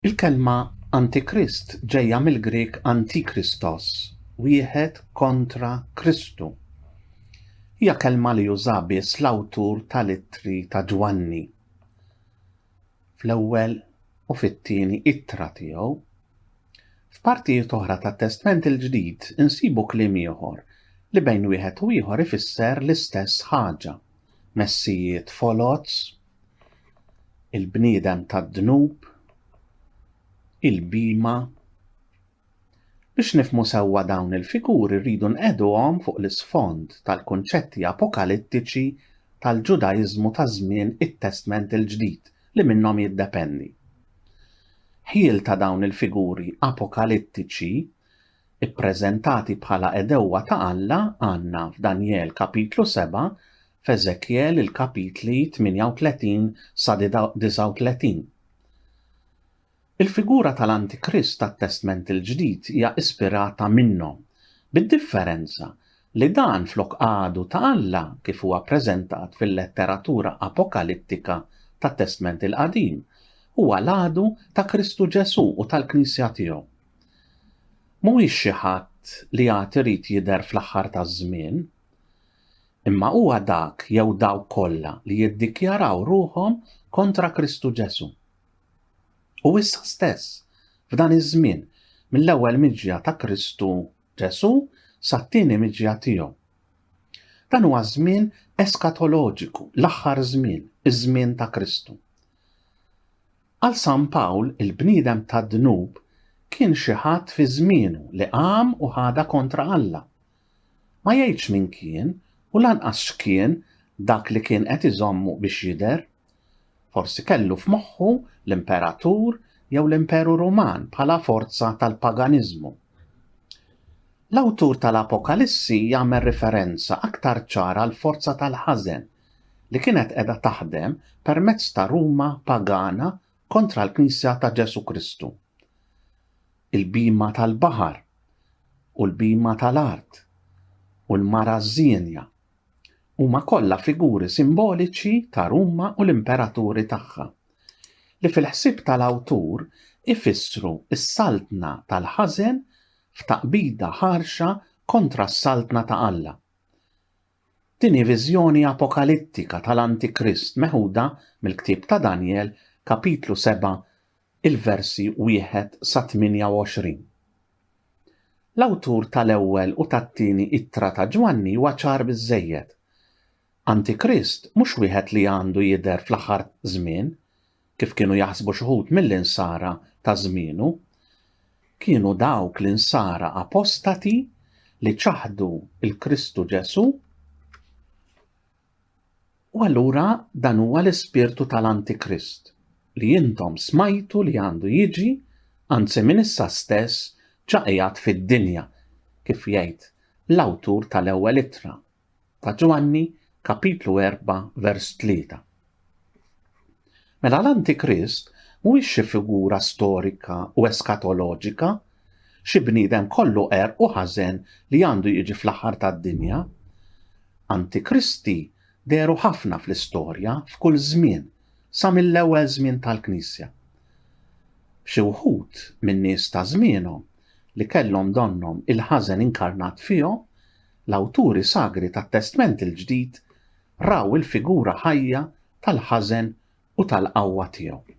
Il-kelma Antikrist ġejja mill-Grieg antikristos, wieħed kontra Kristu. Hija kelma li uża biss l-awtur tal-ittri ta' Ġwanni fl-ewwel u fit-tieni ittra tiegħu. F'partijiet oħra tat-Testment il-Ġdid insibu kliem ieħor li bejn wieħed u ieħor ifisser l-istess ħaġa, messijiet foloz il-bniedem tad-dnub, il-bhima. Biex nifhmu sewwa dawn il-figuri rridu nqiegħduhom fuq l-isfond tal-kunċetti apokalittiċi tal-Ġudaiżmu ta' żmien it-Testment il-Ġdid li minnhom jiddependi. Ħjiel ta' dawn il-figuri apokalittiċi ppreżentati bħala għedewwa ta' Alla għandna f'Danjel kapitlu 7 f'Eżekjel il-kapitli 38 sa 39. Il-figura tal-Antikrist tat-Testment il-Ġdid hija ispirata minnhom, bid-differenza li dan flok għadu ta' Alla kif huwa preżentat fil-letteratura apokalittika tat-Testment il-Qadim, huwa l-għadu ta' Kristu Ġesù u tal-Knisja tiegħu. Mhuwiex xi ħadd li għad irid jidher fl-aħħar taż-żmien. imma huwa dak jew dawk kollha li jiddikjaraw ruħhom kontra Kristu Ġesù. U issa stess, f'dan iż-żmien, mill-ewwel miġja ta' Kristu Ġesù sat-tieni miġja tiegħu. Dan huwa żmien eskatoloġiku, l-aħħar żmien, iż-żmien ta' Kristu. Għal San Pawl, il-bniedem tad-dnub kien xi ħadd fi żmienu li qam u ħada kontra Alla, Ma jgħidx min kien u lanqas x'kien dak li kien qed iżommu biex jidher. Forsi kellu f'moħħu l-imperatur jew l-Imperu Ruman bħala forza tal-paganiżmu. L-awtur tal-Apokalissi jagħmel riferenza aktar ċara għall-forza tal-ħażen li kienet qiegħda taħdem permezz ta' Ruma pagana kontra l-Knisja ta' Ġesù Kristu. il-bhima tal-baħar u l-bhima tal-art u l-mara żienja, huma kollha figuri simboliċi ta' Ruma u l-imperaturi tagħha, li fil-ħsieb tal-awtur ifissru s-saltna tal-ħażen f'taqbida ħarxa kontra s-saltna ta' Alla. Tieni viżjoni apokalittika tal-Antikrist meħuda mill-ktieb ta' Danjel, Kapitlu 7, il-versi 1 sa 28. L-awtur tal-ewwel u tat-tieni ittra ta' Ġwanni huwa ċar biżżejjed. Antikrist mhux wieħed li għandu jidher fl-aħħar żmien, kif kienu jaħsbu xi wħud mill-Insara ta' żmienu, kienu dawk l-Insara apostati li ċaħdu l-Kristu Ġesù u allura dan huwa l-ispirtu tal-Antikrist li intom smajtu li għandu jiġi anzi minn issa stess ġa qiegħed fid-dinja kif jgħid l-awtur tal-ewwel ittra ta' Ġwanni kapitlu 4 vers 3. Mela l-Antikrist mhuwiex xi figura storika u eskatoloġika, xi bniedem kollu qerq u ħażen li għandu jiġi fl-aħħar tad-dinja. Antikristi dehru ħafna fl-istorja f'kull żmien sa mill-ewwel żmien tal-Knisja. Xi wħud min-nies ta' żmienhom li kellhom donnhom il-ħażen inkarnat fihom l-awturi sagri tat-Testment il-Ġdid raw il-figura ħajja tal-ħażen u tal-qawwa tiegħu.